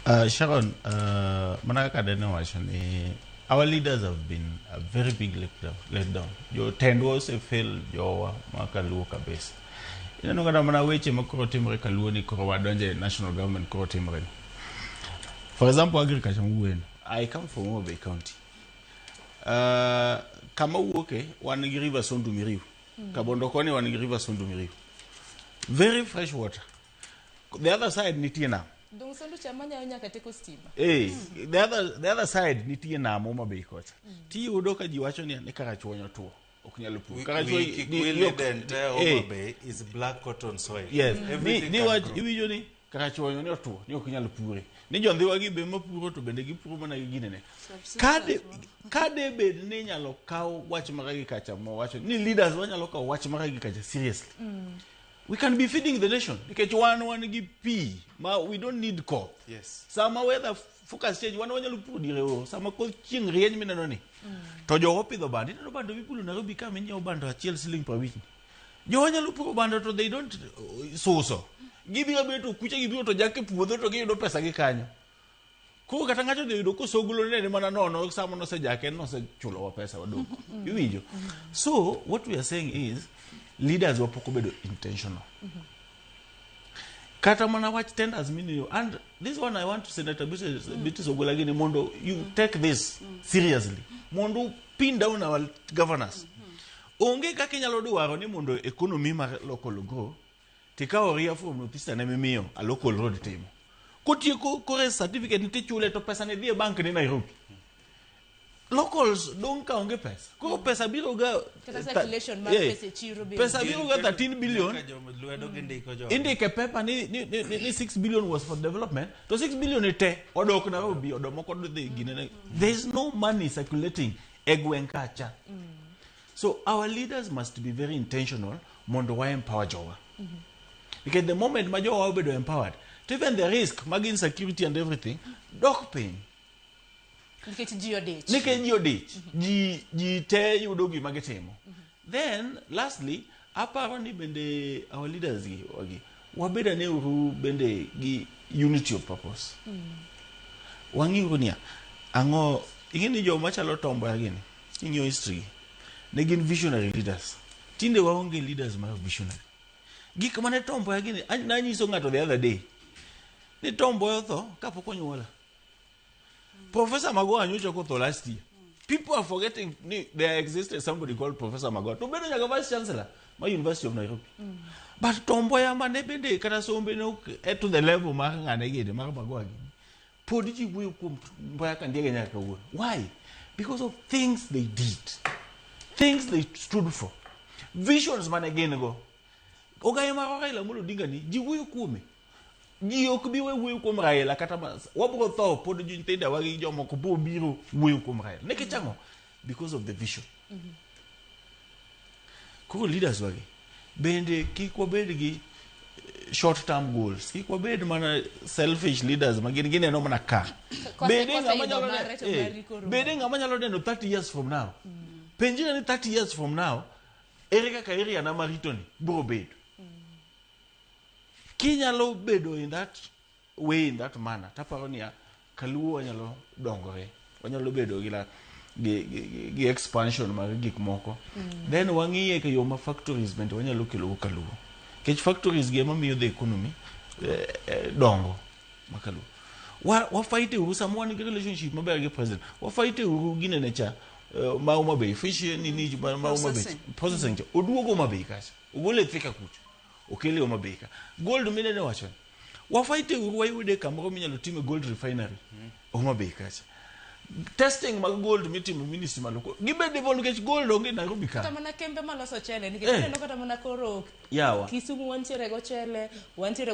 Uh, Sharon, uh, Manaka Dene wacho ni our leaders have been a very big let down. Let down. Your tend was a fail jowa makaluo kabisa. Ineno kata mana weche ma koro timre kaluo ni koro wadonje e national government koro timre. ni. For example, agriculture mwen. I come from Homa Bay County. Uh, kama wuoke wan gi river Sondu Miriu. Kabondo koni wan gi river Sondu Miriu. Very fresh water. the other side nitie nam Dong sondo cha manyayo nyaka teko stima. Hey, the other the other side nitie nam Homa Bay kocha. Tiyudo ka ji wacho ni ni kaka chuonyo tuo. Ok nyal pur. We, Kaka we, chuonyo ki- ni- we ni ok- the entire Homa Hey, Bay is black cotton soil. Yes. Ni Everything ni can wach grow. iwinjo ni kaka chuonyo ni otuo ni ok nyal pure. Ni jondhiwa gi be mapuro to bende gipuro mana gi ginene. Kade kade bed ni inyalo kaw wach maka gi kacha mo wacho ni leaders wanyalo kaw wach maka gi kacha seriously. We can be feeding the nation nikech wan wan gi pi ma we don't need koth. Yes. Sama weather focus change wan wanyalo puro diere oro sama koth chieng' rieny mineno ni. Mm. To jogo opidho bando ineno bando mipuro Nairobi ka minyiewo bando achiel siling' per week. Jogo nyalo puro bando to they don't uh, suso. Gibiro biro to kuche gibiro to jak e puodho to giyudo pesa gi kanyo. Koro kata ng'ato odhi yudo kosogolo nene mana nono sama nosejake nosechulowa pesa waduogo. Mm-hmm. Iwinjo? Mm-hmm. So what we are saying is leaders wapoko bedo intentional. Mm-hmm. Kata mana wach tenders miniyo and this one I want to Senator Beatrice mm. Ogolagini mondo you mm. take this mm. seriously. Mondo pin down our governors. Mm-hmm. Onge kaka inyalo dwaro ni mondo economy mar local grow tikawo ria from notista ne mimiyo a local road timo kotieko kore certificate tichule to pesa ne dhi e bank ni Nairobi locals dong' ka onge pesa koro mm. pesa biro ga pesa biro ga 13 billion indike pepa ni, ni, ni, ni 6 billion was for development to 6 billion e te odok Nairobi odomoko dhi gine there is no money circulating e gweng' kacha mm. So our leaders must be very intentional mondo wa empower jowa. Because the moment ma jowa obedo empowered, to even the risk mag insecurity and everything dok piny. nikech ji odich Nikech ji odich, ji ji te yudo gima gitimo. Then lastly, Aparo ni bende our leaders gi wagi wabed ane uru bende gi unity of purpose. Wang'i uru niya ang'o ing'e ni joma chalo tomboya gini ing'iyo history gi ne gin visionary leaders. Tinde waonge leaders ma visionary. Gik mane tomboya gini an- nanyiso ng'ato the other day ni tomboya otho kapok onyuola. Professor Magoha nyocha okotho last year. People are forgetting ni there existed somebody called Professor Magoha. To bedo nyaka vice chancellor ma University of Nairobi. But tombo ya mane bende kata sombe ne ok eh, to the level mar ng'ane gede mar Magoha gini. Pod ji wuoyo kuom Mboya Kandiege nyaka kawuono. Why? Because of things they did. Things they stood for. Visions mane gin go. Ogaye mar Raila Amolo Odinga ni ji wuoyo kuome. ji ok bi we wuoyo kuom Raila kata mas wabro tho pod nyithinda wa gi jomoko bro biro wuoyo kuom Raila ne kichango because of the vision mm -hmm. koro leaders wagi bende kik wabed gi eh, short term goals kik wabed mana selfish leaders ma gin gineno mana ka bende ng'ama nyalo eh, bende ng'ama nyalo neno 30 years from now mm -hmm. penjira ni 30 years from now ere kaka area na maritoni bro bedo Kinyalo bedo in that way in that manner taparo niya kaluo wanyalo dongore wanyalo bedo gi la- gi, gi, gi- gi expansion mag gik moko mm. then wang'iye ka yo ma factories bende wanyalo kelo go kaluo nikech factories gi ema miyo the economy eh, eh, dongo ma kaluo Wa- wafaite uru sama wan gi relationship maber gi president wafaite uru ginene cha eh, ma Homa Bay fish eh, nini ma ma Homa Bay Processing. processing cha oduogo Homa Bay kacha ogole e thika kucho okele Homa Bay ka gold minene wacho wafaite uru wayude kamoro minyalo time gold refinery mm. Homa Bay kacha testing mag gold mitimo ministry malo gibe devo nikech gold onge Nairobi ka kata mana kembe maloso chele nikech eh. neno kata mana koro yawa Kisumu wantiere go chele wantiere